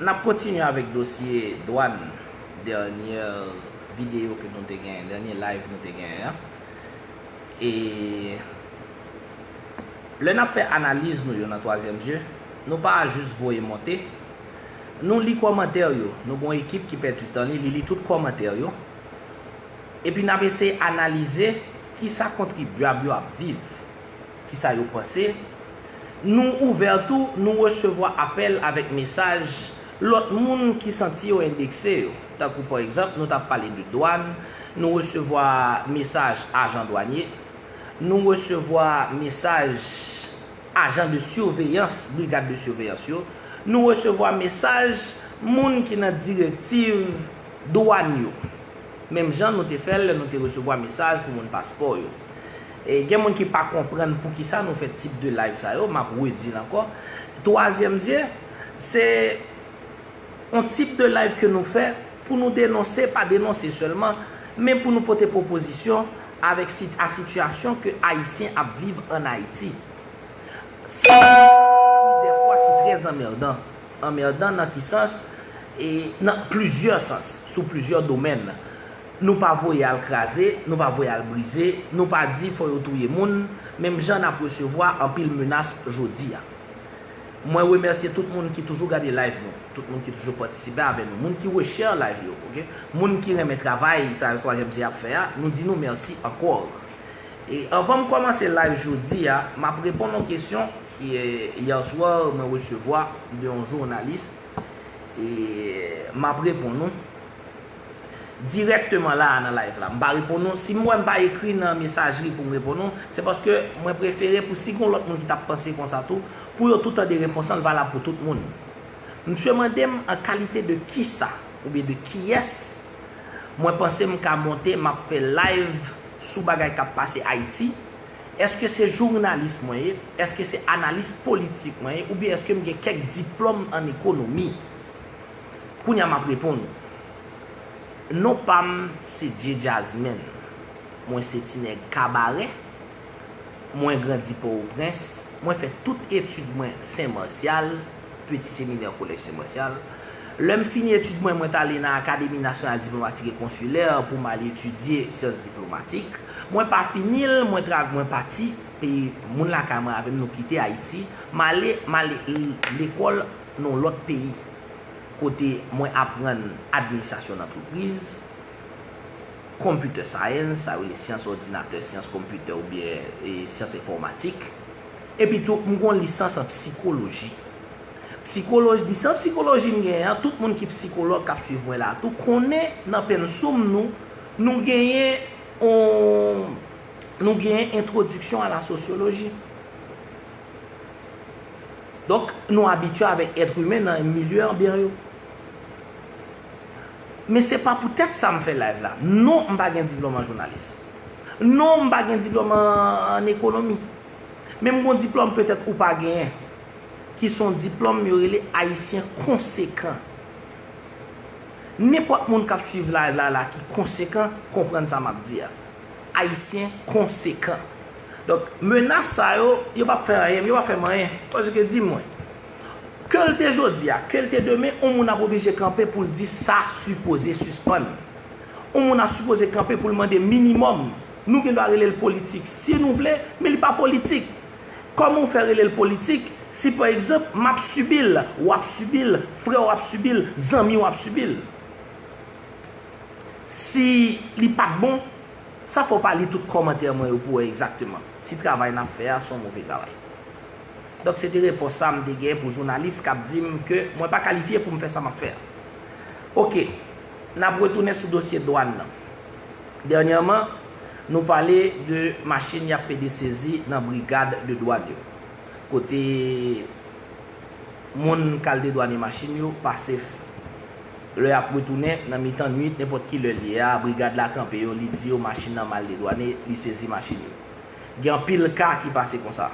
N ap kontinye avèk dosye dwàn dènyè videyo ke nou te genyen, dènye live nou te genyen an. E lè n ap fè analiz nou yo nan twazyèm zye, nou pa jis voye monte. Nou li kòmantè yo. Nou gen yon ekip ki pèdi tan li, li li tout kòmantè yo. Epi n ap eseye analize kisa kontribyab yo ap viv. ki sa yo panse. Nou ouvè tou, nou resevwa apèl avèk mesaj lòt moun ki santi yo endekse yo. Tankou pa egzanp, nou ta pale de dwàn, nou resevwa mesaj ajan dwanye, nou resevwa mesaj ajan de siveyans, brigad de siveyans yo, nou resevwa mesaj moun ki nan direktiv dwàn yo. Menm jan nou te fè lè nou te resevwa mesaj pou moun paspò yo. Gen moun ki pa konprann poukisa nou fè tip de live sa yo, map redi l ankò. Twazyèm zye, se yon tip de live ke nou fè pou nou denonse, pa denonse sèlman, men pou nou pote pwopozisyon avèk a sitiyasyon ke Ayisyen ap viv an Ayiti. Sitiyasyon ki dèfwa ki trè anmèdan. Anmèdan nan ki sans? Nan plizyè sans, sou plizyè domèn. Nou pa voye al kraze, nou pa voye al brize, nou pa di fò yo touye moun, menm jan nap resevwa anpil menas jodi a. Mwen remèsye tout moun ki toujou gade live nou, tout moun ki toujou patisipe avè nou, moun ki reshare live yo, ok, moun ki renmen travay Travay Twazyèm Sye ap fè a, nou di nou mèsi ankor. E anvan m kòmanse live jodi a, map reponn yon kesyon ki hier soir mwen resevwa de yon jounalis e map reponn ou. dirèkteman la a nan live la. M pa reponn ou, si m wè m pa ekri nan mesajri pou m reponn ou, se paske mwen prefere pou si gon lòt moun ki ta panse konsa tou, pou yo tou tande repons an, l valab pou tout moun. Msye mande m an kalite de kisa oubyen de kiyès mwen panse m ka monte m ap fè live sou bagay k ap pase Ayiti, èske se journalis mwen ye, èske se analis politik mwen ye oubyen èske m gen kèk diplòm an ekonomi. Kounya map reponn ou. Non pam se Djee Jazzman. Mwen se ti nèg kabarè. Mwen grandi Pòwoprens. Mwen fè tout etid mwen Sen Marsyal, Peti Seminè Kolèj Sen Marsyal. Lè m fini etid mwen, mwen t ale nan Akademi Nasyonal Diplomatik e Konsilè pou m al etidye Syans Diplomatik. Mwen pa fini l, mwen tra, mwen pati peyi moun lakay mwen avè m nou kite Ayiti. M ale, m ale lekòl. non lòt peyi kote mwen aprann administrasyon nantripriz, computer science, sa yo rele syans òdinatè, syans konpitè oubyen syans enfòmatik. Epi tou m gon lisans an psikoloji. Psikoloj, lisans psikoloji m genyen an, tout moun ki psikològ k ap suiv mwen la a tou konnen nan pensoum nou, nou genyen yon, nou genyen entwodiksyon a la sosyoloji. Donk, nou abitye avèk èt imen nan milye anbyan yo. Men se pa poutèt sa m fè live la. Non, m pa gen diplòm an jounalis. Non, m pa gen diplòm an ekonomi. Men m gen yon diplòm petèt ou pa genyen. Ki se yon diplòm yo rele Ayisyen konsekan. Nenpòt moun k ap swiv live la la ki konsekan, konprann sa m ap di a. Ayisyen konsekan. Donk, menas sa yo, yo pa p fè anyen, yo pa fè m anyen. Paske di mwen, ke l te jodi a, ke l te demen, yon moun ap oblije kanpe pou l di sa sipoze sispann. Yon moun ap sipoze kanpe pou l mande minimòm. Nou gen dwa rele l politik si nou vle, men li pa politik. Kòman w fè rele l politik si pa egzanp, m ap sibi l, w ap sibi l, frè w ap sibi l, zanmi w ap sibi l? Si li pat bon, sa fè w pa li tout kòmantè mwen yo pou wè egzakteman si travay n ap fè a se yon move travay. Donk se te repons sa m te gen pou jounalis k ap di m ke mwen pa kalifye pou m fè sa m ap fè a. Ok, n ap retounen sou dosye dwàn nan. Dènyèman, nou pale de machin y ap pede sezi nan brigad de dwàn yo, kote moun k al dedwane machin yo pase. Lè y ap retounen, nan mitan nuit, nenpòt ki lè l ye a, brigad la kanpe yo, li di yo machin nan mal dedwane, li sezi machin yo. Gen anpil ka ki pase konsa.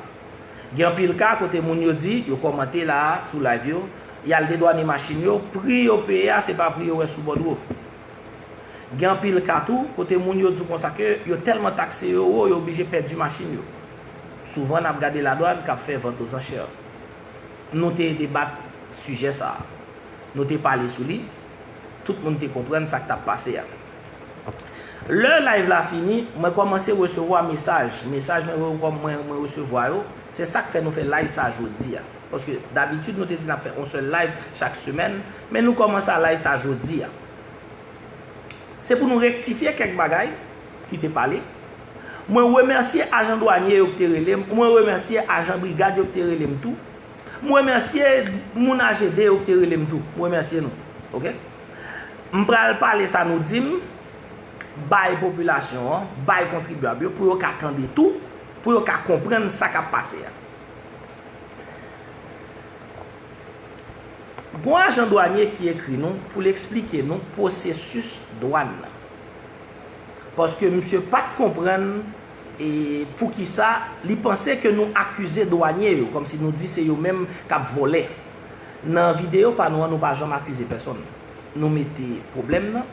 Gen anpil ka kote moun yo di, yo kòmante la a, sou live yo, y al dedwane machin yo, pri yo peye a se pa pri yo wè sou bòdwo. Gen anpil ka tou, kote moun yo di w konsa ke yo tèlman takse yo wo, yo oblije pèdi machin yo. Souvan n ap gade ladwàn k ap fè vant o zanchè. Nou te debat sijè sa a. Nou te pale sou li. Tout moun te konprann sa k t ap pase a. Lè live la fini, mwen kòmanse resevwa mesaj. Mesaj mwen resevwa yo, se sa k fè nou fè live sa jodi a. Paske dabitid nou te di n ap fè yon sèl live chak semèn, men nou kòmanse a live sa jodi a. Se pou nou rektifye kèk bagay ki te pale. Mwen remèsye ajan dwanye yo ki te rele m. Mwen remèsye ajan brigad yo ki te rele m tou. M remèsye moun AGD yo ki te rele m tou. M remèsye nou. Ok. M pral pale sa nou di m bay popilasyon an, bay kontribyab yo pou yo ka tande tou, pou yo ka konprann sa k ap pase a. Gon ajan dwanye ki ekri nou pou l esplike nou pwosesis dwàn nan. Paske misye pa t konprann. E poukisa li panse ke nou akize dwanye yo, kòmsi nou di se yo menm k ap vòlè. Nan videyo pa nou an, nou pa janm akize pèsonn. Nou mete pwoblèm nan,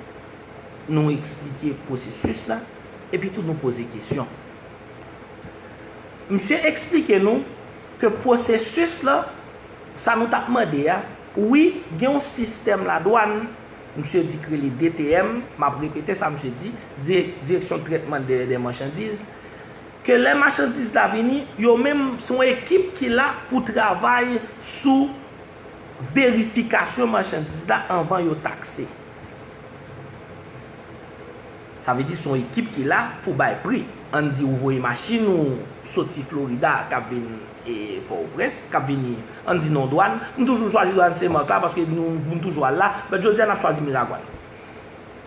nou eksplike pwosesis la, epi tou nou poze kesyon. Msye eksplike nou ke pwosesis la, sa nou t ap mande a, wi, gen yon sistèm ladwàn, Msye Dick rele DTM, m ap repete sa msye di, Direksyon Trètman Dèyè dè Machandiz, ke lè machandiz la vini, yo menm se yon ekip ki la pou travay sou verifikasyon machandiz la anvan yo takse. Sa vle di se yon ekip ki la pou bay pri. Ann di ou voye machin ou soti Florida k ap vin. e pòtoprens kap vini ann di non dwàn m toujou chwazi dwàn sen marc la paske nou moun toujou al la but jodi a nap chwazi miragwàn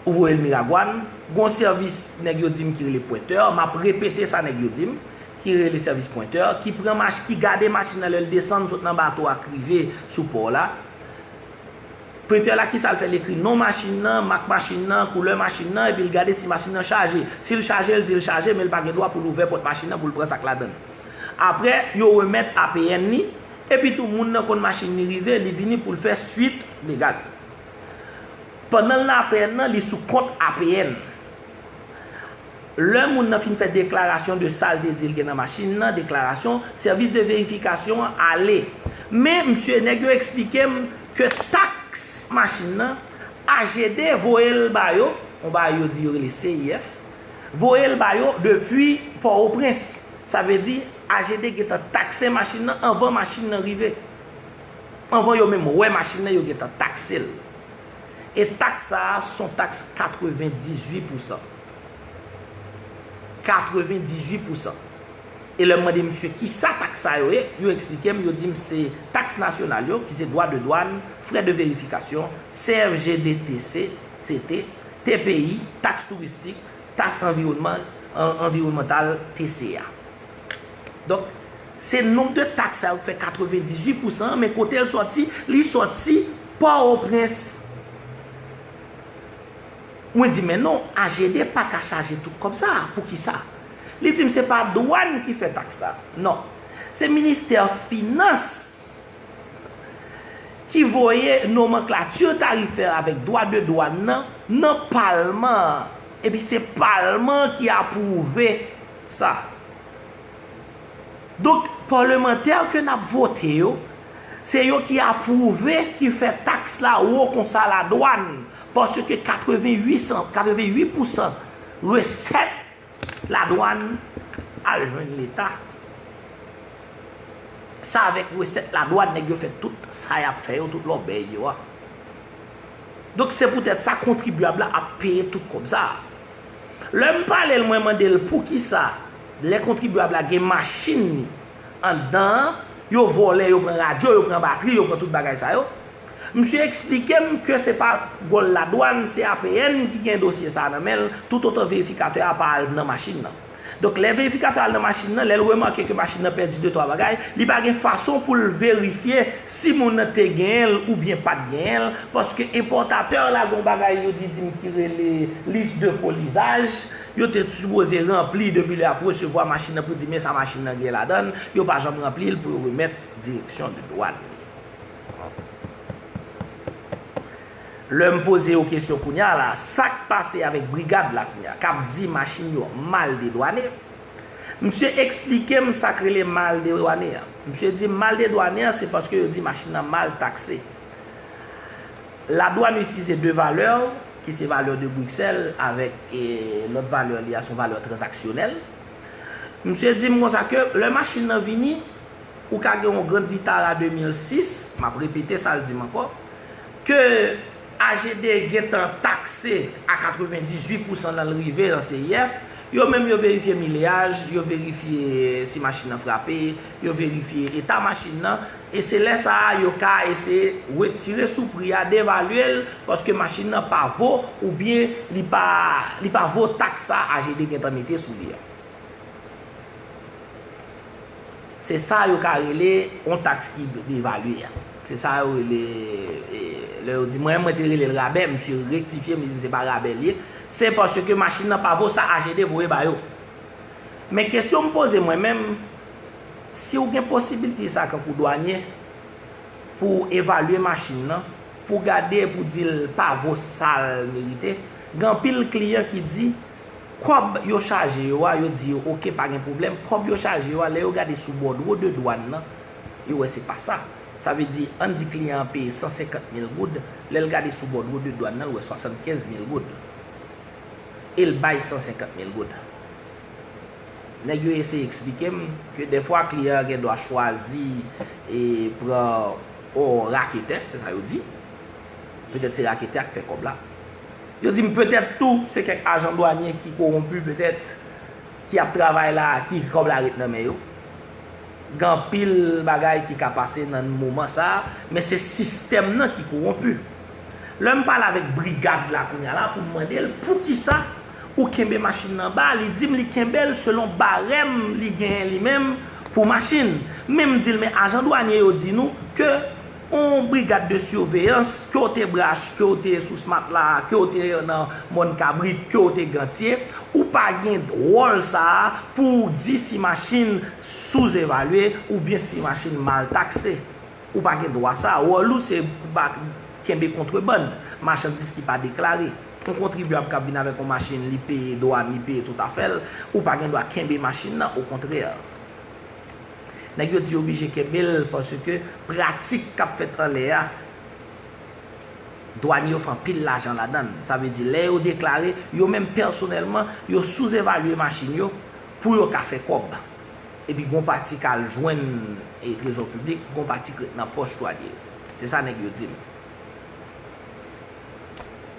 ou voyel miragwàn gon sèvis nèg yo dim ki rele pwentè map repete sa nèg yo dim ki rele sèvis pwentè ki pran mach ki gade machin nan lèl desann sot nan bato a k rive sou pò la. Prepè la kisa l fè l ekri non machin nan, mak machin nan, koulè machin nan epi l gade si machin nan chaje. Si l chaje l di l chaje men l pa gen dwa pou l ouvè pòt machin nan pou l pran sa k ladan l. Aprè yo remèt APN li epitou moun nan konn machin li rive li vini pou l fè swit legal. Pandan l nan APN nan li sou kont APN. Lè moun nan fin fè deklarasyon de sa l te di l gen nan machin nan, deklarasyon, sèvis de verifikasyon an ale. Men, msye, nèg yo eksplike m ke taks machin nan, AGD voye l ba yo, yon bagay yo di yo rele CIF, voye l ba yo depi Pòwoprens. Sa vle di, AGD gen tan takse machin nan anvan machin nan rive. Anvan yo menm wè machin nan, yo gen tan takse l. E taks sa a son taks 98 pousan. 98 pousan. E lè m mande misye ki sa taks sa yo ye, yo eksplike m, yo di m se taks nasyonal yo, ki se dwa de dwàn, frè de verifikasyon, CFG DTC, CT, TPI, taks touristik, taks anviwònman, anviwònmantal, TCA. Donk. Se nonb de taks sa yo k fè 98 pousan an, men kote l sòti, li sòti Pòtoprens. Mwen di men non, AGD pa ka chaje tout kòb sa a, pou ki sa? Li di m se pa dwàn ki fè taks la. Non. Se ministè finans ki voye nomanklati tarifè avèk dwa de dwàn nan, nan palman an. Epi se palman an ki apwouve sa. Donk palemantè ke nap vote yo, se yo ki apwouve ki fè taks la wo konsa la dwann, paske 88 pousan resèt la dwann al jwenn leta. Sa avèk resèt la dwann nèg yo fè tout sa yap fè yo, tout lòbèy yo a. Donk se poutèt sa kontribyab la ap peye tout kòb sa. Lèm pale l mwen mande l poukisa. Lè kontribyab la gen machin li anndan an, yo vòlè, yo pran radyo, yo pran batri, yo pran tout bagay sa yo. Msye eksplike m ke se pa wòl ladwàn, se APN ki gen dosye sa a nan men l toutotan verifikatè a pa al nan machin nan. Donk lè verifikatè a al nan machin nan, lè l remake ke machin nan pèdi de twa bagay, li pa gen fason pou l verifye si moun nan te genyen l oubyen pa t genyen l paske enpòtatè la gen yon bagay yo di di m ki rele liste de colisage, Yo te sipoze ranpli depi lè y ap resevwa machin nan pou di men sa machin nan gen ladan l, yo pa janm ranpli l pou yo remèt direksyon de dwàn li. Lè m poze yo kesyon kounye a la, sa k pase avèk brigad la kounye a k ap di machin yo mal dedwane? Msye eksplike m sa k rele mal dedwane an. Msye di m mal dedwane an se paske yo di machin nan mal takse. La dwann itilize 2 valè ou, ki se valè de Briksèl avèk lòt valè li a se yon valè tranzaksyonèl. Msye di m konsa ke lè machin nan vini, ou ka gen yon Grand Vitara 2006, m ap repete sa l di m ankò, ke AGD gen tan takse a 98 pousan nan l rive nan CIF, yo menm yo verifye mileyaj, yo verifye si machin nan frape, yo verifye eta machin nan, E se lè sa a yo ka eseye wetire sou pri a, devalye l, paske machin nan pa vo oubyen li pa li pa vo taks sa AGD gen tan mete sou li a. Se sa yo ka rele yon taks ki devalye a. Se sa yo rele e lè yo di mwen menm mwen te rele l rabè, misye rektifye m li di m se pa rabè l ye. Se paske machin nan pa vo sa AGD voye ba yo. Men kesyon m poze mwen menm, Si ou gen posibilite sa kankou dwanye, pou ou evalye machin nan, pou ou gade e pou ou di l pa vo sa l merite, gen anpil kliyan ki di, kòb yo chaje yo a, yo di yo ok pa gen pwoblèm, kòb yo chaje yo a, lè yo gade sou bòdwo de dwàn nan, yo wè se pa sa. Sa vle di, an n di kliyan an peye 150 mil goud, lè l gade sou bòdwo de dwàn nan, l wè 75 mil goud. E l bay 150 mil goud. Nèg yo eseye eksplike m ke dèfwa kliyan an gen dwa chwazi e pran yon raketè, se sa yo di. Petèt se raketè a k fè kòb la. Yo di m petèt tou se kèk ajan dwanye ki kowonpi petèt, ki ap travay la, ki kòb la ret nan men yo. Gen anpil bagay ki ka pase nan moman sa a, men se sistèm nan ki kowonpi. Lè m pale avèk brigad la kounye a la pou m mande l poukisa Ou kenbe machin nan ba, li dim li kenbel selon barèm li genyen li menm pou machin. Men m dil men ajan dwanye yo di nou ke on brigad de surveillans ke w te brach, ke w te sous matla, ke w te nan mòn kabrit, ke w te gantye, ou pa gen wòl sa a pou w di si machin sous evalye oubyen si machin mal takse. Ou pa gen dwa sa a. Wòl ou se pou pa kenbe kontrebann, machandiz ki pa deklare. Yon kontribyab k ap vin avèk yon machin, li peye dwàn, li peye tout afè l, ou pa gen dwa kenbe machin nan, okontrè. Nèg yo di yo bije kenbe l paske pratik k ap fèt anlè a, dwàn yo fè anpil lajan ladan l. Sa vle di lè yo deklare, yo menm pèsonèlman, yo souzevalye machin yo pou yo ka fè kòb. Epi gon pati k al jwenn trezò piblik, gon pati k ret nan pòch twalye yo. Se sa nèg yo di m.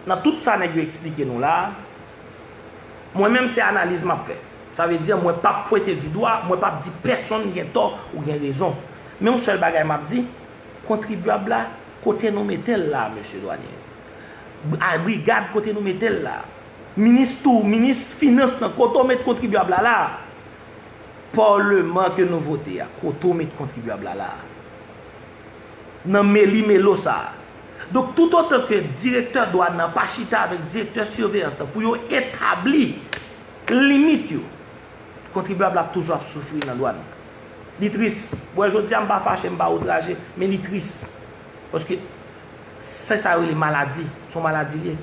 Nan tout sa nèg yo eksplike nou la a, mwen menm se analiz m ap fè. Sa vle di mwen p ap pwente di dwa, mwen p ap di pèsonn gen tò ou gen rezon. Men yon sèl bagay m ap di, kontribyab la, kote nou mete l la a mesye dwanye yo, brigad kote nou mete l la a, Minis tou minis finans lan kote w met kontribyab la la a? Parleman ke nou vote a kote w met kontribyab la la a? Nan meli melo sa a. Donk tout otan ke direktè dwàn nan pa chita avèk direktè siveyans lan pou yo etabli limit yo, kontribyab la ap toujou ap soufri nan dwàn nan. Li tris. Wè jodi a m pa fache, m pa outraje, men li tris. Paske se sa yo rele maladi. Son maladi li ye.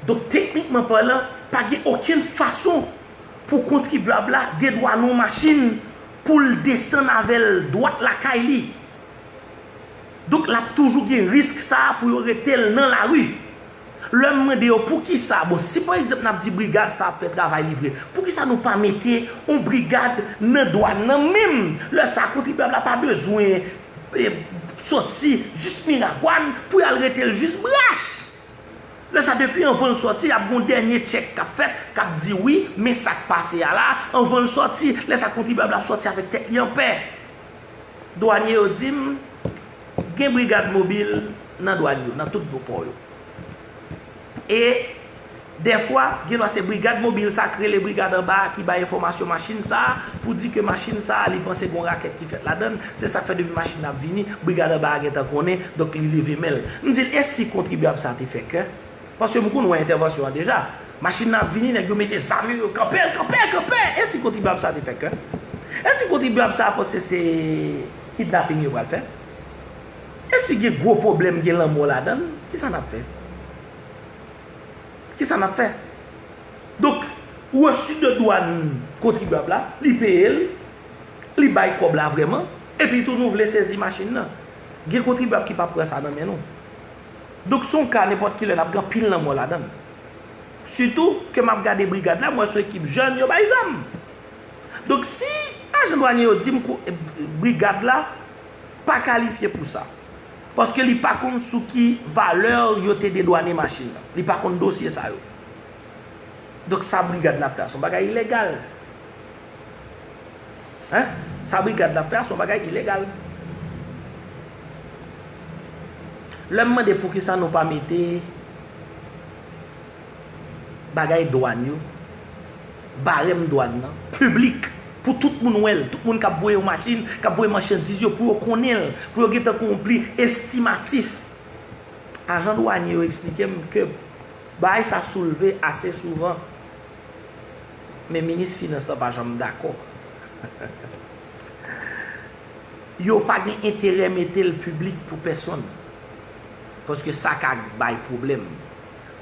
Donk teknikman palan, pa gen okenn fason pou kontribyab la dedwane yon machin pou l desann avè l dwat lakay li. Donk l ap toujou gen risk sa a pou yo rete l nan lari. Lè m mande yo poukisa, bon si pa egzanp n ap di brigad sa a ap fè travay li vre, poukisa nou pa mete yon brigad nan dwàn nan menm lè sa a kontribyab la pa bezwen soti jis Miragwàn pou y al rete l jis Brach. Lè sa depi anvan l soti ap gen yon dènye tchèk k ap fèt k ap di wi men sa k pase a la anvan l soti. Lè sa kontribyab la ap soti avèk tèt li anpè. Dwanye yo di m gen brigad mobil nan dwàn yo, nan tout gwo pò yo. E, dèfwa, genlwa se brigad mobil sa k rele brigad anba a ki bay enfòmasyon machin sa a pou di ke machin sa a li panse gon rakèt ki fèt ladan l. Se sa k fè depi machin nan ap vini, brigad anba a gentan konnen, donk li leve men l. M di l, e si kontribyab sa a te fè kè? Paske m konn wè entèvansyon an deja. Machin nan ap vini, nèg yo mete zam yo, yo kanpe l, kanpe, kanpe! E si kontribyab sa a te fè kè? E si kontribyab sa a panse se kidnaping yo pral fè? E si gen gwo pwoblèm gen lanmò ladan l, ki sa n ap fè? Ki sa n ap fè? Donk, resu de dwann kontribyab la, li peye l, li bay kòb la vrèman, epi tou nou vle sezi machin nan. Gen kontribyab ki pap pran sa nan men nou. Donk se yon ka nenpòt ki lè l ap gen anpil lanmò ladan l. Sitou ke m ap gade brigad la, m wè se yon ekip jèn, yo bay zam. Donk si ajan dwanye yo di m brigad la, pa kalifye pou sa. Paske li pa konn sou ki valè yo te dedwane machin nan. Li pa konn dosye sa yo. Donk sa brigad nan ap fè a son bagay ilegal. Hein? Sa brigad nan ap fè a son bagay ilegal. Lè m mande poukisa nou pa mete... bagay dwàn yo, barèm dwàn nan, piblik, pou tout moun wè l, tout moun k ap voye yon machin, k ap voye machandiz yo, pou yo konnen l, pou yo gentan konpli estimatif. Ajan dwanye yo eksplike m ke bagay sa soulve ase souvan, men minis finans la pa janm dakò. Yo pa gen enterè mete l piblik pou pèsonn, paske sa ka bay pwoblèm.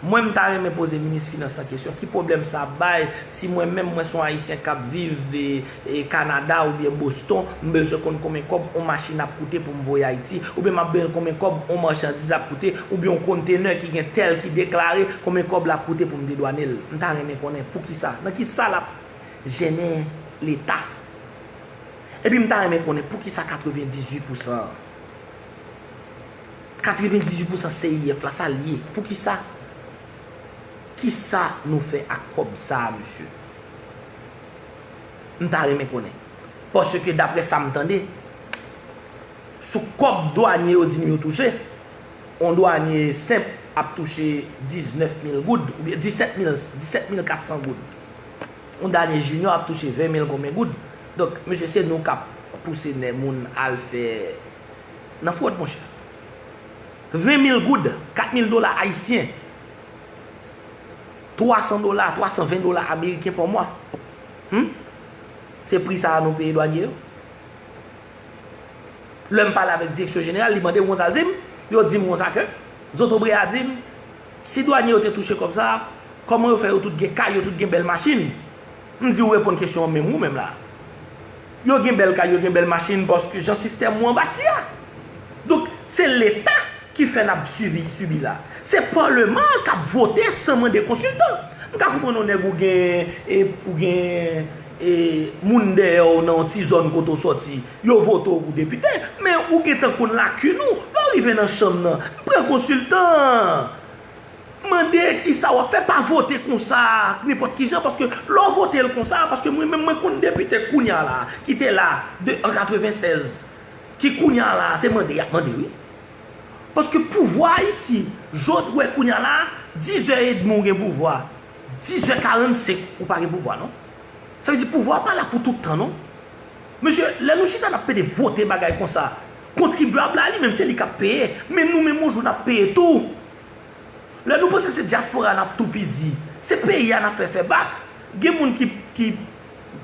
Mwen m ta renmen poze minis finans lan kesyon ki pwoblèm sa ap bay si mwen menm mwen son ayisyen kap viv Canada oubyen Boston m bezwen konn konbyen kòb on machin ap koute pou m voye Ayiti oubyen map bezwen konbyen kòb on marchandise ap koute oubyen on container ki gen tel ki deklare konbyen kòb lap koute pou m dedwane l m ta renmen konnen poukisa nan kisa lap jennen leta epi m ta renmen konnen poukisa 98 pousan an. 98 pousan CIF la sal ye poukisa kisa nou fè ak kòb sa mesye m ta renmen konnen paske daprè sam tande sou kòb dwanye yo di nou yo touche yon dwanye senp ap touche 19 mil goud oubyen 17 mil 17 mil 400 goud yon dwanye jinyò ap touche 20 mil konbyen goud donk mesye se nou kap pouse nè moun al fè nan fwod monchè. 20 mil goud, 4 mil dola ayisyen, 300 dola, 320 dola ameriken pa mwa. Hum? Se pri sa a nou peye dwanye yo? Lè m pale avèk direksyon jeneral, li mande m konn sa l di m, yo di m kon sa ke, zotobre a di m, si dwanye yo te touche kòb sa a, kòman yo fè yo tout gen kay, yo tout gen bèl machin? M di ou reponn kesyon an menm ou menm la a. Yo gen bèl kay, yo gen bèl machin paske jan sistèm ou an bati a. Donk, se leta ki fè n ap sivi, sibi la. Se paleman an k ap vote san mande konsiltan. M ka konprann yon nèg ou gen, e ou gen e moun dèyè w nan yon ti zòn kote w sòti, yo vote w pou depite, men ou gentan konn lakin ou. Lè w rive nan chanm nan, pran konsiltan. Mande kisa wap fè pa vote konsa nenpòt kijan paske lè w vote l konsa paske mwen menm mwen konn depite kounya la ki te la de an 96 ki kounya la se mande yap mande wi paske pouvwa ayiti jan w t wè kounya la dizè edmi w gen pouvwa dizè karannsek ou pa gen pouvwa non sa vle di pouvwa pa la pou tout tan non mesye lè nou chita nap pede vote bagay konsa Kontribyab la li menm se li kap peye men nou menm yon jou nap peye tou lè nou panse se dyaspora a nap toupizi se peyi a nap fè fè bak gen moun ki ki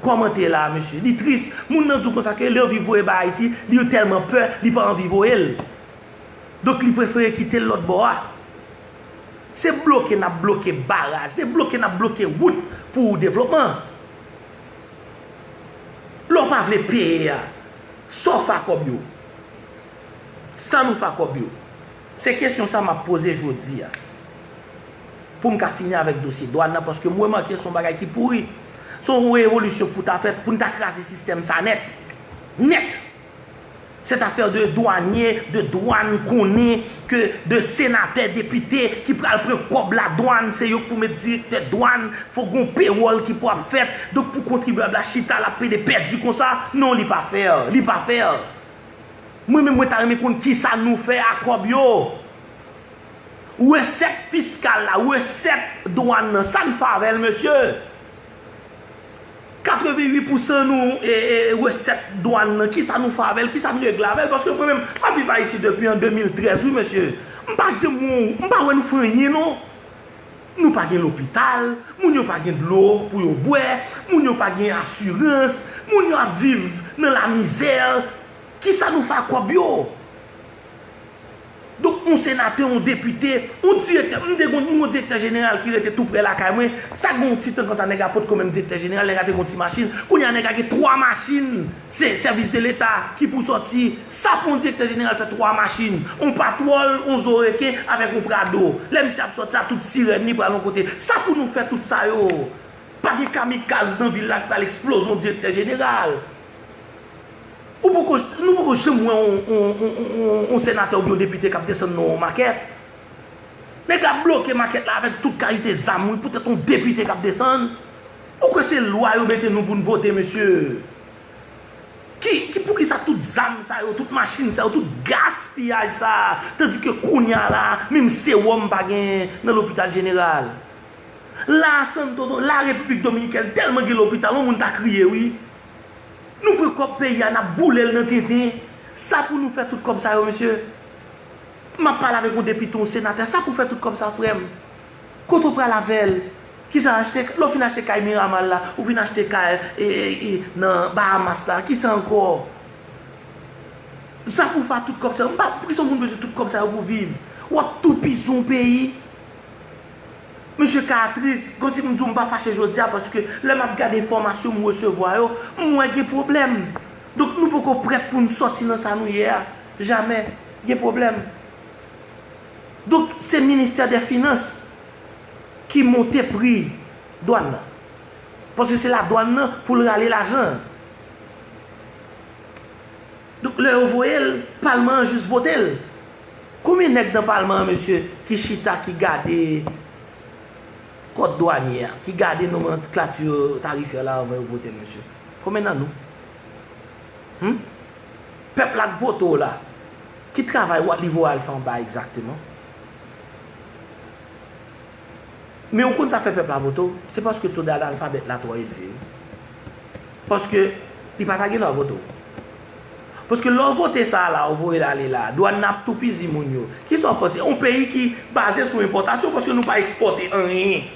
kòmante la a mesye li tris moun nan di w konsa ke li anvi voye bay ayiti li yo tèlman pè li pa anvi voye l donk li prefere kite l lòt bò a se bloke nap bloke baraj se bloke nap bloke wout pou devlopman lè w pa vle peye a. Saw fa kob yo? Sa nou fa kob yo? Se kesyon sa map poze jodi a. Poum ka fini avek dosye dwan nan paske m remake son bagay ki pouri. Son revolisyon pou ta fèt poun ta kraze sistèm sa nèt. Nèt! Cette affaire de douanier, de douane konnen. Ke de senatè depite ki pral pran kòb la dwann se yok pou met direktè dwann fòk gon pewòl ki pou ap fèt donk pou kontribyab la chita lap pede pèdi konsa non li pa fèr li pa fèr mwen menm mwen ta renmen konn kisa nou fè a kòb yo resèt fiskal la resèt dwann nan sa n favèl mesye. 88 pousan nou resèt dwan nan kisa nou fè avèl kisa n regle avèl paske mwen menm map viv ayiti depi an 2013 wi mesye m pa janm wè m pa wè nou fè anyen non nou pa gen lopital moun yo pa gen dlo pou yo bwè moun yo pa gen asirans moun yo ap viv nan lamizè kisa nou fè ak kòb yo. Donk yon senatè, yon depite, yon direktè, m te konn yon direktè jeneral ki rete tou prè lakay mwen, sa gen yon ti tan konsa nèg a potko menm direktè jeneral, nèg a te gen yon ti machin, kounye a nèg a gen 3 machin, se sèvis de leta ki pou sòti, sa pou yon direktè jeneral fè 3 machin, yon patwòl, yon zo reken avèk yon prado, lè misye ap sòti sa tout sirèn li pral yon kote, sa pou nou fè tout sa yo, pa gen kamikaz nan vil la ki pral eksploze yon direktè jeneral. Ou poko, nou poko janm wè yon senatè oubyen yon depite kap desann nan yon makèt. Nèg la bloke makèt la avèk tout kalite zam wi poutèt yon depite kap desann. Ou kwè se lwa yo mete nou poun vote mesye? Ki, ki poukisa tout zam sa yo, tout machin sa yo, tout gaspiyaj sa, tandike kounya la menm sewòm pa genyen nan lopital jeneral. La Santo, la Repiblik Dominikèn tèlman gen lopital yon moun ta kriye wi. Nou pran kòb peyi a nap boulel nan tenten sa pou nou fè tout kòb sa yo mesye map pale avèk yon depite yon senatè sa pou fè tout kòb sa frèm kote ou pral avèl kisa achte lè ou fin achte kay miramal la ou vin achte kay nan bahamas la kisa ankò sa pou fè tout kòb sa yo mpa pou kisa moun bezwen tout kòb sa yo pou viv wap toupison peyi Mesye ka tris, konsi m di w m pa fache jodi a paske lè m ap gade enfòmasyon m resevwa yo, m wè gen pwoblèm. Donk nou poko prèt pou n sòti nan sa nou ye a. Jamè. Gen pwoblèm. Donk se ministè dè finans ki monte pri dwàn nan. Paske se ladwàn nan pou l rale lajan an. Donk lè yo voye l, palman an jis vote l. Konbyen nèg nan palman an mesye ki chita ki gade kòd dwanye a, ki gade nomanklati tarifè la anvan yo vote l mesye? Konbyen nan nou? Hum? Pèp la k vote w la, ki travay li voye al fè anba a egzakteman? Men ou konn sa k fè pèp la vote w? Se paske to danalfabèt la twò elve wi. Paske li pa ta gendwa vote w. Paske lè w vote sa a la a ou voye l ale la a, dwàn nan ap toupizi moun yo. Kisa w panse? On peyi ki baze sou enpòtasyon paske nou pa ekspòte anyen.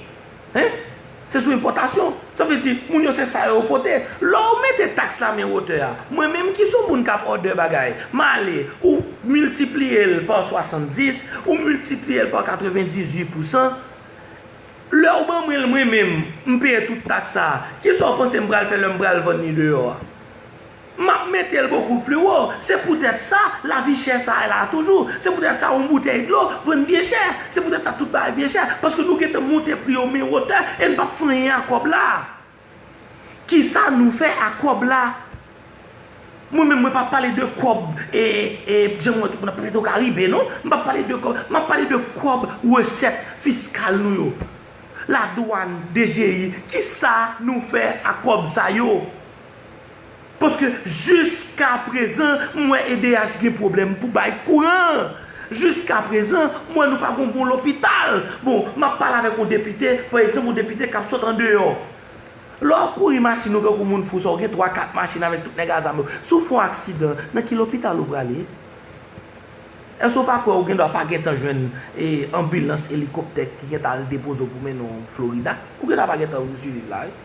Hein? Se sou enpòtasyon. Sa vle di, moun yo se sa yo pote. Lè w mete taks la men wotè a, mwen menm ki son moun k ap òdè bagay, m ale, ou miltipliye l pa 70, ou miltipliye l pa 98 pousan, lè w ban mwen l mwen menm, m peye tout taks sa a, ki sa w panse m pral fè lè m pral vann li deyò a? M ap mete l bokou pli wo. Se poutèt sa, lavi chè sa a la toujou. Se poutèt sa, yon boutèy dlo vann byen chè. Se poutèt sa, tout bagay byen chè. Paske nou gen tan monte pri yo men wotè e n pa p fè anyen ak kòb la. Ki sa nou fè ak kòb la? Mwen menm, mwen pa p pale de kòb e, e, jan m wè tout moun ap pale de Karibe non. M pa p pale de kòb. M ap pale de kòb resèt fiskal nou yo. Ladwàn, DGI, ki sa nou fè ak kòb sa yo? Paske jiska prezan m wè edh gen pwoblèm pou bay kouran. Jiska prezan m wè nou pa gen yon bon lopital. Bon, m ap pale avèk yon depite, pa egzanp yon depite k ap sot andeyò. Lè w ap kouri machin ou tankou moun fou sa w gen twa kat machin avèk tout nèg a zam yo. Si w fè yon aksidan, nan ki lopital ou prale? Èske w pa kwè ou gen dwa pa gentan jwenn anbilans, elikoptè ki gentan al depoze w pou mennen w Florida? Ou gen dwa pa gentan siviv la wi.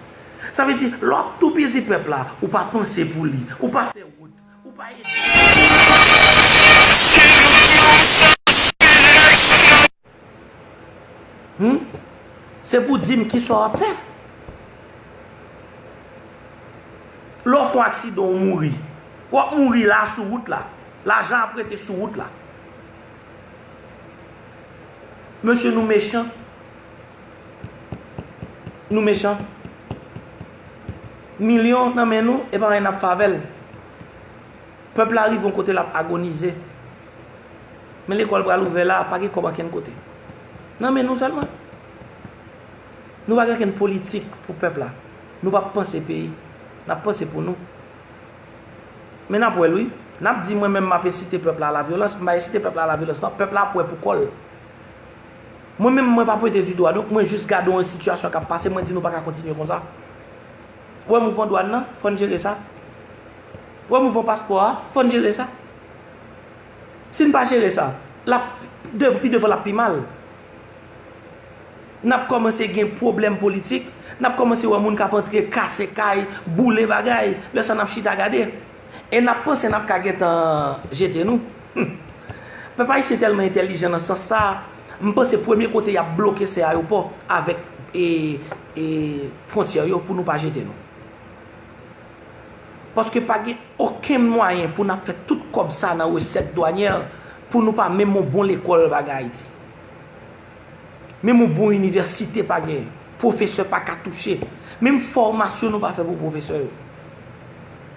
Sa vle di, lè w ap toupizi pèp la, ou pa panse pou li, ou pa fè wout, ou pa ede l. Hum? Se pou w di m kisa w ap fè? Lè w fè yon aksidan ou mouri, w ap mouri la sou wout la. Lajan ap rete sou wout la. Mesye nou mechan. Nou mechan. Milyon nan men nou, e pa anyen nap fè avè l. Pèp la rive yon kote lap agonize. Men lekòl pral ouvè la, pa gen kòb ankenn kote. Nan men nou sèlman. Nou pa gen ankenn politik pou pèp la. Nou pa panse peyi. Nap panse pou nou. Men nap wè l wi. Nap di mwen menm map ensite pèp la a la vyolans, m pa ensite pèp la a la vyolans non. Pèp la ap wè pou kò l. Mwen menm mwen pa pwente dido a donk mwen jis gade yon sitiyasyon kap pase mwen di nou paka kontinye konsa. Ou wè mouvman dwàn nan, fò n jere sa. Ou wè mouvman paspò a, fò n jere sa. Si n pa jere sa, lap pi devan lap pi mal. Nap kòmanse gen pwoblèm politik, nap kòmanse wè moun kap antre kase kay, boule bagay, lè sa nap chita gade. E nap panse nap ka gentan jete nou? Humm. Pèp ayisyen tèlman entèlijan nan sans sa a, m panse premye kote yap bloke se ayopò avèk e fwontyè yo pou nou pa jete nou. Paske pa gen okenn mwayen pou nap fè tout kòb sa nan resèt dwanyè pou nou pa menm yon bon lekòl pa gen Ayiti. Menm yon bon inivèsite pa gen. Pwofesè pa ka touche. Menm fòmasyon nou pa fè pou pwofesè yo.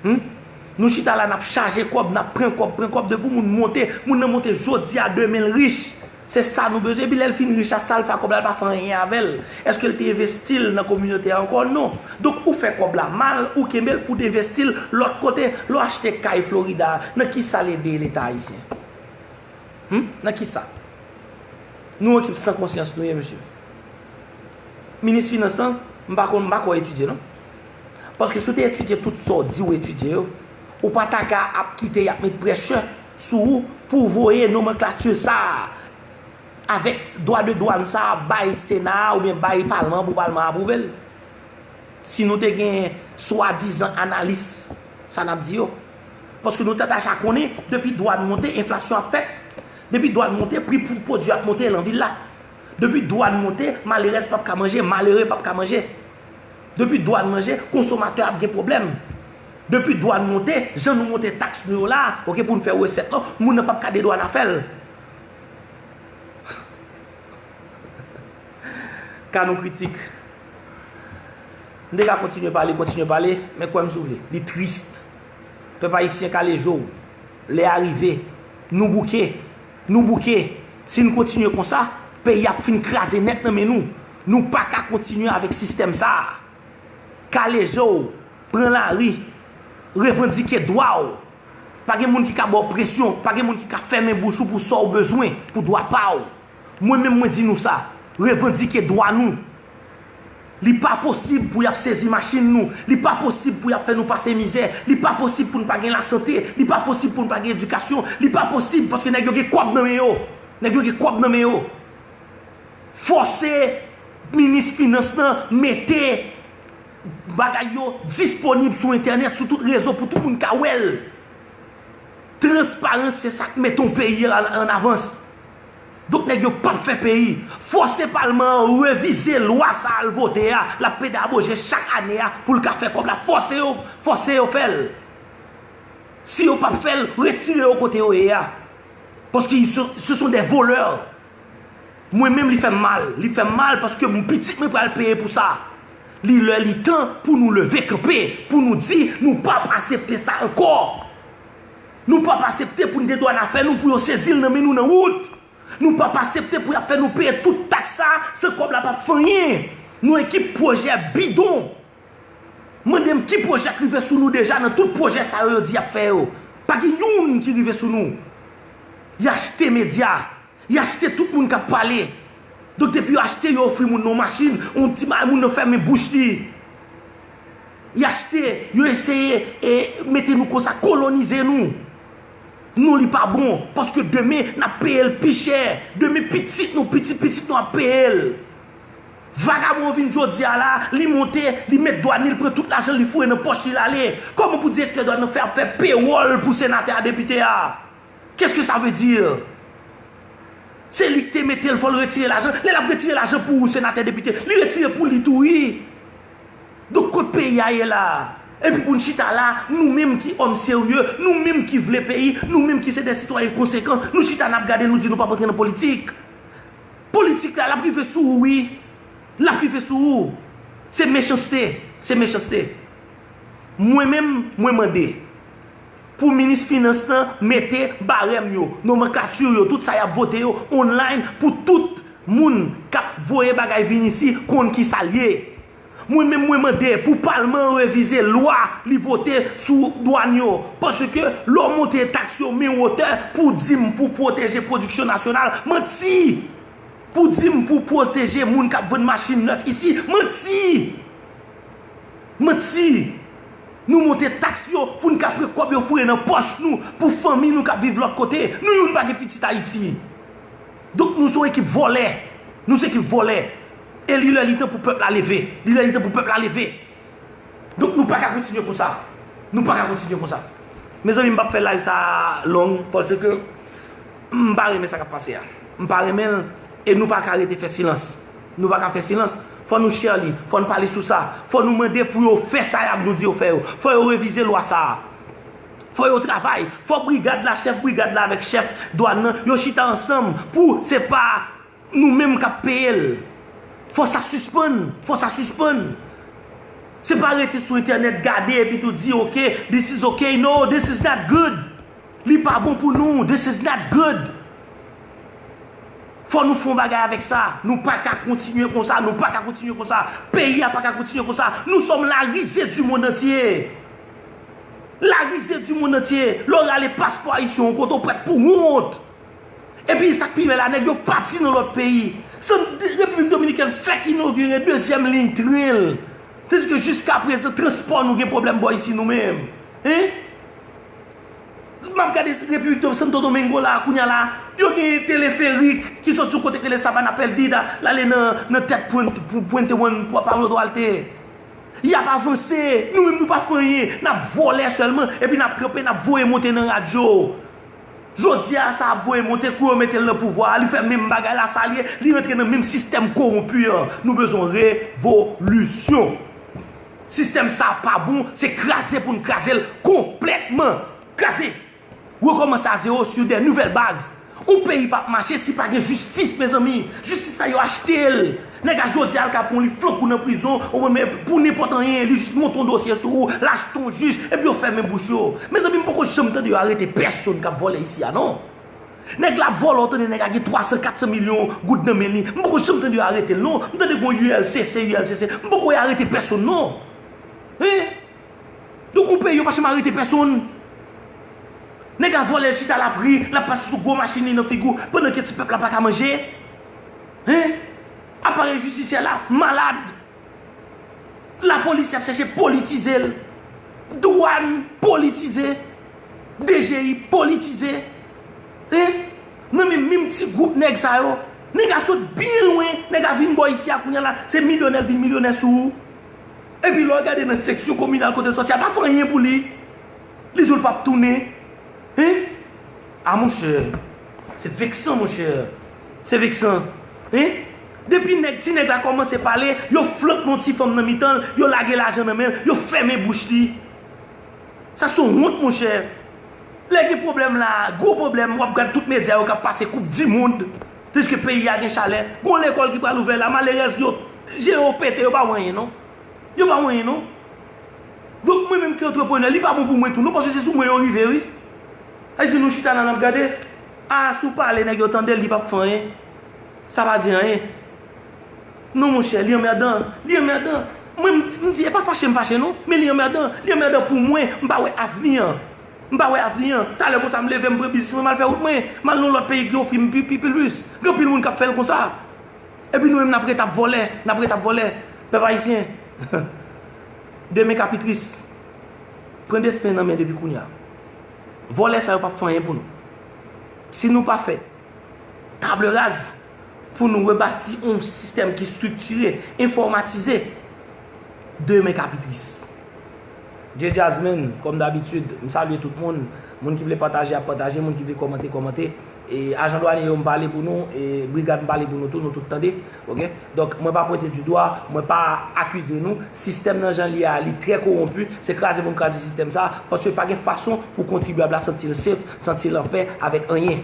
Hum? Nou chita la nap chaje kòb, nap pran kòb, pran kòb depi moun monte, moun nan monte jodi a demen l rich. Se sa nou bezwen epi lè l fin rich la sa l fè ak kòb la l pa fè anyen avè l. Eske l te envesti l nan kominote a ankò? Non. Donk ou fè kòb la mal, ou kenbe l pou w te envesti l lòt kote. Lè w achte kay Florida a, nan kisa l ede leta ayisyen? Humm nan kisa Nou ekip san konsyans Nou ye mesye Minis finans lan m pa konn m pa kwè w etidye non paske si w te etidye tout sa w di w etidye yo ou pa ta ka ap kite y ap met prèshè sou ou pou w voye nomanklati sa a avèk dwa de dwann sa a bay sena a oubyen bay palman an pou palman an apwouve l si nou te gen swadizan analis sa n ap di yo. Paske nou ta daja konnen, depi dwàn monte, enflasyon ap fèt. Depi dwàn monte, pri pou pwodui ap monte lan vil la. Depi dwàn monte, malerèz pap ka manje, malere pap ka manje. Depi dwàn manje, konsomatè ap gen pwoblèm. Depi dwàn monte, jan nou monte taks nou yo la, ok, pou nou fè resèt lan, moun nan pap ka dedwana fè l. Ka nou kritik. M te ka kontinye pale, kontinye pale, men kwè m si w vle. Li triste. Pèp Ayisyen kale je w. Lè a rive. Nou bouke. Nou bouke. Si n kontinye konsa, peyi a ap fin kraze nèt nan men nou. Nou pa ka kontinye avèk sistèm sa a. Kale je w. Pran lari. Revandike dwa w. Pa gen moun ki ka ba w presyon. Pa gen moun ki ka fèmen bouch ou pou sa w bezwen, pou dwa pa w. Mwen menm mwen di nou sa, revandike dwa nou. Li pa posib pou y ap sezi machin nou, li pa posib pou y ap fè nou pase mizè, li pa posib pou n pa gen lasante, li pa posib pou n pa gen edikasyon, li pa posib paske nèg yo gen kòb nan men yo, nèg yo gen kòb nan men yo. Fòse minis finans lan mete bagay yo disponib sou entènèt, sou tout rezo pou tout moun ka wè l. Transparans se sa k mete yon peyi an avans. Donk nèg yo pap fè peyi. Fòse palman an revize lwa sa al vote a lap pedaboje chak ane a poul ka fè kòb la fòse yo fòse yo fèl si yo pap fèl retire yo kote yo ye a paske se son de volè mwen menm li fèm mal li fèm mal paske m pitit mwen pral peye pou sa li lè li tan pou nou leve kanpe pou nou di nou pap asepte sa ankò. Nou pap asepte pou n gen dwàn afè nou pou yo sezi l nan men nou nan wout. Nou pap asepte pou y ap fè nou peye tout taks sa a san kòb la pap fè anyen. Nou ekip pwojè bidon. Mande m ki pwojè k rive sou nou deja nan tout pwojè sa yo yo di y ap fè yo. Pa gen youn ki rive sou nou. Y achte medya. Li achte tout moun kap pale. Donk depi yo achte yo ofri moun nan yon machin, yon ti bagay moun nan fèmen bouch li. Li achte, yo eseye e mete nou konsa, kolonize nou. Non li pa bon, paske demen nap peye l pi chè. Demen pitit nou, pitit pitit nou ap peye l. Vagabon an vin jodi a la, li monte, li met dwàn li, li pran tout lajan li foure nan pòch li lale. Kòman pou direktè dwàn nan fè ap fè pewòl pou senatè a depite a? Qu'est ce que ça veut dire? Se li ki te metel fol retire lajan, lel ap retire lajan pou ou senate depite, li retire pou li tou ui. Donk kot peyi a ye la? Epi poun chita la, nou menm ki òm serye, nou menm ki vle peyi, nou menm ki se de sitwayen konsekan, nou chita nap gade nou di nou pap antre nan politik. Politik la lap rive sou ou ui, lap rive sou ou. Se mechanste, se mechanste. Mwen menm, mwen mande. Pou minis finans lan mete barèm yo, nomenclature yo, tout sa yap vote yo online pou tout Moun kap voye bagay vin isi konn kisal ye. Mwen menm mwen mande pou palman an revize lwa li vote sou dwann yo paske lè w monte taks yo men wotè pou w dim pou w pwoteje pwodiksyon nasyonal, manti! Pou w dim pou w pwoteje moun kap vann machin nèf isi, manti! Manti! Nou monte taks yo pou n ka pran kòb yo foure nan pòch nou pou fanmi nou k ap viv lòt kote. Nou youn pa gen pitit Ayiti. Donk nou son ekip vòlè. Nou se ekip vòlè. E li lè li tan pou pèp la leve. Li lè li tan pou pèp la leve. Donk nou pa ka kontinye konsa. Nou pa ka kontinye konsa. Mezanmi m p ap fè live sa a long paske m pa renmen sa k ap pase a. M pa renmen l e nou pa ka rete fè silans. Nou pa ka fè silans. Fò nou share li. Fò nou pale sou sa. Fò nou mande pou yo fè sa y ap nou di yo fè yo. Fò yo revize lwa sa a. Fò yo travay. Fò brigad la, chèf brigad la avèk chèf dwann nan, yo chita ansanm pou se pa nou menm k ap peye l. Fò sa sispann. Fò sa sispann. Se pa rete sou entènèt gade epi tou di ok, this is ok, no, this is not good. Li pa bon pou nou. This is not good. Fò nou fè yon bagay avèk sa. Nou pa ka kontinye konsa. Nou pa ka kontinye konsa. Peyi a pa ka kontinye konsa. Nou sòm la rize di mond antye. La rize di mond antye. Lò rale paspò ayisyen yon kote ou prèt pou wont. E pi sa k pi bèl la nèg yo pati nan lòt peyi. San Repiblik Dominikèn fèk inogire dezyèm liy tren l. Tandiske jiska prezan transpò nou gen pwoblèm bò isi nou menm. Hein? Map gade repiblik do santo domingo la kounya la yo gen teleferik ki sot sou kote ki rele sabana perdida lale nan tèt puente juan pablo duarte yap avanse nou menm nou pa fè anyen nap vòlè sèlman epi nap kanpe nap voye monte nan radyo jodi a sa ap voye monte kou yo metel nan pouvwa a li fè menm bagay lasalye li rantre nan menm sistèm kowonpi an nou bezwen revolisyon. Sistèm sa pa bon, se kraze pou n kraze l konplètman. Kraze! Rekòmanse a zewo sur de nouvèl baz. Yon peyi pap mache si pa gen jistis mezanmi. Jistis la yo achte l. Nèg a jodi a Al Capone li flank ou nan prizon pou nenpòt anyen, li jis monte yon dosye sou ou, l achte yon jij epi yo fèmen bouch yo. Mezanmi m poko janm tande yo arete pèsonn k ap vòlè isi a non. Nèg la ap vòlò ou tande nèg a gen 300 400 milyon goud nan men li m poko janm tande yo aretel non m tande gon ulcc ulcc m poko wè arete pèsonn non hein nou gon peyi yo pa janm arete pèsonn nèg la vòlè l chita lap ri lap pase sou gwo machin li nan figi w pandan ke ti pèp la paka manje hein aparèy jistisyè la malad. La polis yap chache politize l. Dwan politize. DGI politize. E nan men menm ti gwoup nèg sa yo. Nèg a sot byen lwen. Nèg a vin bò isi a kounya la. Se milyonè l vin milyonè sou ou. E pi lè w gade nan seksyon kominal kote l soti a pa fè anyen pou li. Li di w l pap tounen. E. A monchè. Se veksan monchè. Se veksan. E. Depi nèg ti nèg la kòmanse pale, yo flank non ti fanm nan mitan l, yo lage lajan nan men l, yo fèmen bouch li. Sa son wont monchè. Lè gen pwoblèm la, gwo pwoblèm, w ap gad tout medya yo k ap pase koup dimond, tandiske peyi a gen chalè. Gon lekòl ki pral ouvè la, malerèz yo, je yo pete, yo pa wè anyen non. Yo pa wè anyen non. Donk mwen menm ki antreprenè, li pa bon pou mwen tou non, paske se sou mwen yo rive wi. Sa vle di nou chita la n ap gade? A si w pale nèg yo tande l, li p ap fè anyen. Sa pa di anyen non monchè li anmèdan li anmèdan mwen m di e pa fache m fache non men li anmèdan li anmèdan pou mwen m pa wè avni an m pa wè avni an talè konsa m leve m pran biznis mwen m al fè wout mwen m al nan yon lòt peyi ki ofri m pi plis gen anpil moun k ap fè l konsa epi nou menm n ap ret ap vòlè n ap ret ap vòlè pèp ayisyen demen ka pi tris pran destin nan men depi kounye a vòlè sa yo p ap fè anyen pou nou si nou pa fè table raz pou nou rebati yon sistèm ki striktire, enfòmatize. Demen ka pi tris. Djey Jazzman, kòm dabitid, m salye tout moun. Moun ki vle pataje ap pataje, moun ki vle kòmante, kòmante. E ajan dwanye yo m pale pou nou, e brigad m pale pou nou tou, nou tout tande. Ok? Donk mwen pa pwente di dwa, mwen pa akize nou. Sistèm nan jan l ye a, li trè kowonpi. Se kraze pou n kraze sistèm sa a. Paske pa gen fason pou kontribyab la santi l sef, santi l anpè avèk anyen.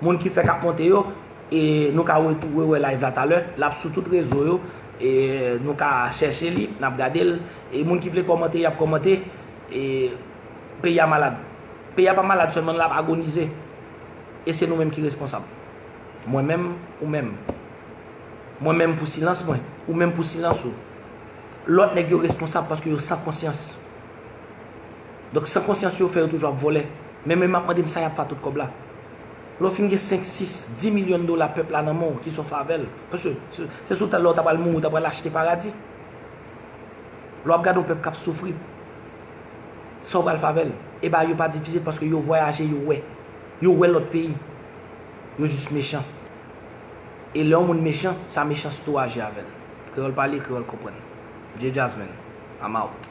Moun ki fèk ap monte yo e nou ka rewè live la talè lap sou tout rezo yo e nou ka chèche li nap gadel e moun ki vle kòmante yap kòmante e peyi a malad peyi a pa malad sèlman lap agonize e se nou menm ki responsab mwen menm ou menm mwen menm pou silans mwen ou menm pou silans ou lòt nèg yo responsab paske yo san konsyans. Donk san konsyans yo fè yo toujou ap vòlè. Men men map mandem sa yap fè a tout kòb la. Lè w fin gen 5, 6, 10 milyon dola pèp la nan men w, kisa w fè avè l? Paske se sou tèl la w ta pral mouri, w ta pral achte paradi. Lè wap gade yon pèp kap soufri, sa w pral fè avè l? E bagay yo pa difisil paske yo vwayaje yo wè. Yo wè lòt peyi. Yo jis mechan. E lè yon moun mechan, sa mechanste ou aji avè l. Kreyòl pale, kreyòl konprann. Mnje Jazzman, I'm out.